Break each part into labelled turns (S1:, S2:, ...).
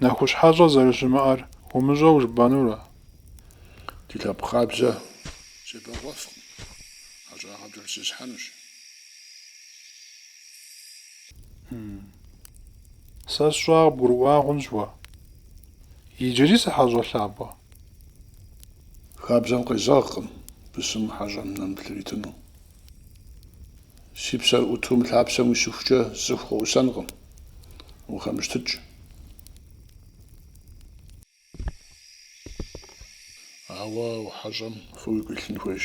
S1: Нэхущ хьэщӏэ зэрыщымыӏэр умыщӏэу жыпӏэнурэ? Ди лъэпкъ хабзэ себэкъуэфкъым, хьэщӏагъэ пкӏэлъызесхьэнущ. Сэ сщӏа къыбгурыӏуа хъунщ уэ. Иджыри сыхьэщӏэ лъапӏэ. Хабзэм къезэгъкъым бысым хьэщӏэм нэмыплъ иритыну. Си псэр ӏуту мы лъапсэм уисыхукӏэ цӏыху къоӏусэнкъым. Ухэмыщтыкӏ. Ауэ ухьэщӏэм фӏы уигу илъын хуейщ.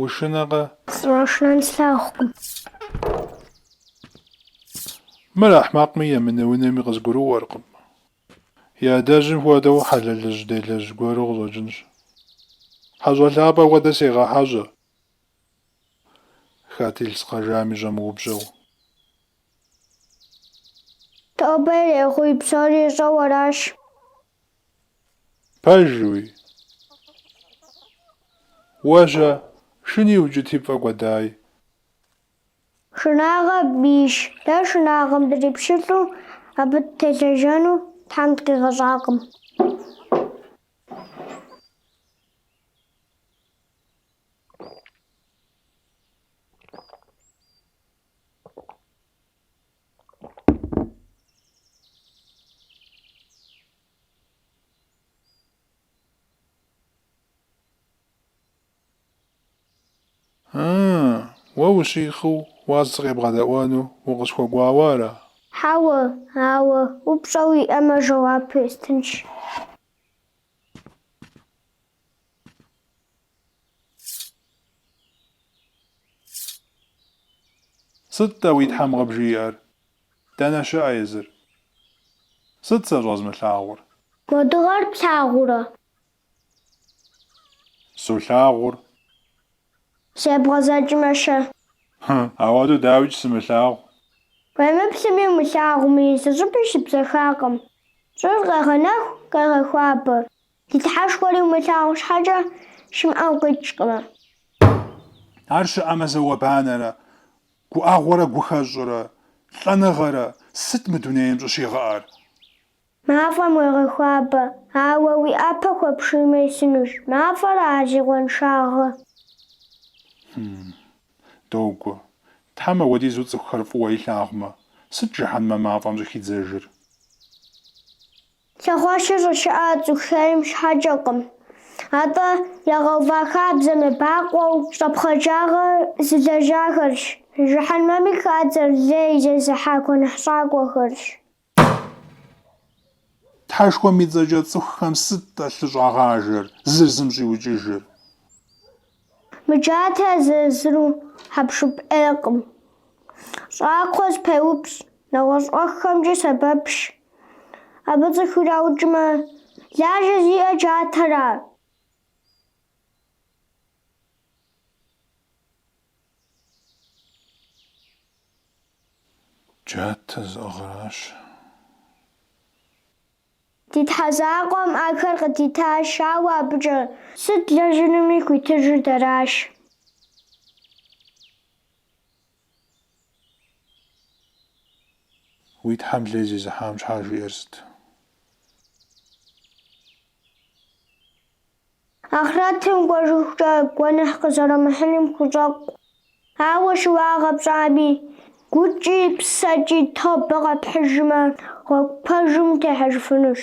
S1: Ушынэкъэ? Сыщӏэшынэн слъагъукъым. Мыр ахьмакъми емынэунэми къызгурыӏуэркъым. И адэжьым хуэдэу хьэлэлыжь делэжь гуэру къыщӏэкӏынщ. Хьэщӏэ лъапӏэ хуэдэ сегъэхьэщӏэ, хэт илъ згъэжами щӏэмыупщӏэу. Тобэ ирехъуи, псори ищӏэу аращ. Пэжуи? Уэ-щэ, шыни укӏыти пфӏэкӏуэдай. Шынагъэ бийщ. Дэ шынагъэм дрипщылӏу абы дытелэжьэну Тхьэм дыкъигъэщӏакъым. Ыы, уэ ущихъыу уаз сыкъебгъэдэӏуэну укъысхуэкӏуауэ ара? Хьэуэ, ауэ упщӏэ уиӏэмэ жэуап уэстынщ. Сыт-тӏэ уи Тхьэм къыбжиӏэр? Дэнэ щыӏэ езыр? Сыт сэ щӏэзмылъагъур? Уэ дыгъэр плъагъурэ? Солъагъур. Зебгъэзэкӏмэ-щэ? Хы, ауэдэу дауикӏ сымылъагъу? Уемыплъми умылъагъуми, зы щӏыпӏи щыбзэхакъым. Щӏыр къегъэнэху, къегъэхуабэ. Ди Тхьэшхуэри умылъагъу щхьэкӏэ щымыӏэу къикӏкъымэ. Ар щыӏэмэ зауэ-банэрэ, гуӏэгъуэрэ гухэщӏрэ, лӏэныгъэрэ, сыт мы дунейм щӏыщигъэӏэр? Мафӏэм уегъэхуабэ, ауэ уи ӏэпэ хуэпшиймэ исынущ. Мафӏэра зи къуэншагъэр? Хм. Догуэ. Тхьэм апхуэдизу цӏыхухэр фӏыуэ илъагъумэ, сыт жыхьэнмэ мафӏэм щӏыхидзэжыр? Лъэхъуэщыр щӏыщыӏэр цӏыху хейм щхьэкӏэкъым. Атӏэ, ягъэува хабзэм ебакъуэу щӏэпхъаджагъэ зылэжьахэрщ. Жыхьэнмэми хадзэр лей зезыхьа гуэныхьщӏакӏуэхэрщ. Тхьэшхуэм и цӏэкӏэ цӏыхухэм сыт-тӏэ лъы щӏагъажэр, зыр зым щӏиукӏыжыр? Мы джатэр езыр-езыру хьэпшып ӏейкъым. Щӏакхъуэ зэпеупщӏ, нэгъуэщӏ ӏуэхухэмкӏи сэбэпщ. Абы цӏыху ираукӏмэ, лажьэ зиӏэр джатэра? Джатэ зыӏыгъыращ. Ди Тхьэ закъуэм ахэр къыдитащ, ауэ абыкӏэ сыт длэжьынуми хуитыжыр дэращ. Уи Тхьэм лей зезыхьам щхьа жиӏэр сыт? Ахърэтым кӏуэжыхукӏэ гуэныхь къызэрумыхьыным хущӏэкъу. Ауэ щыуагъэ пщӏами, гукӏи псэкӏи тобэ къэпхьыжмэ, гъуэгу пэжым утехьэжыфынущ.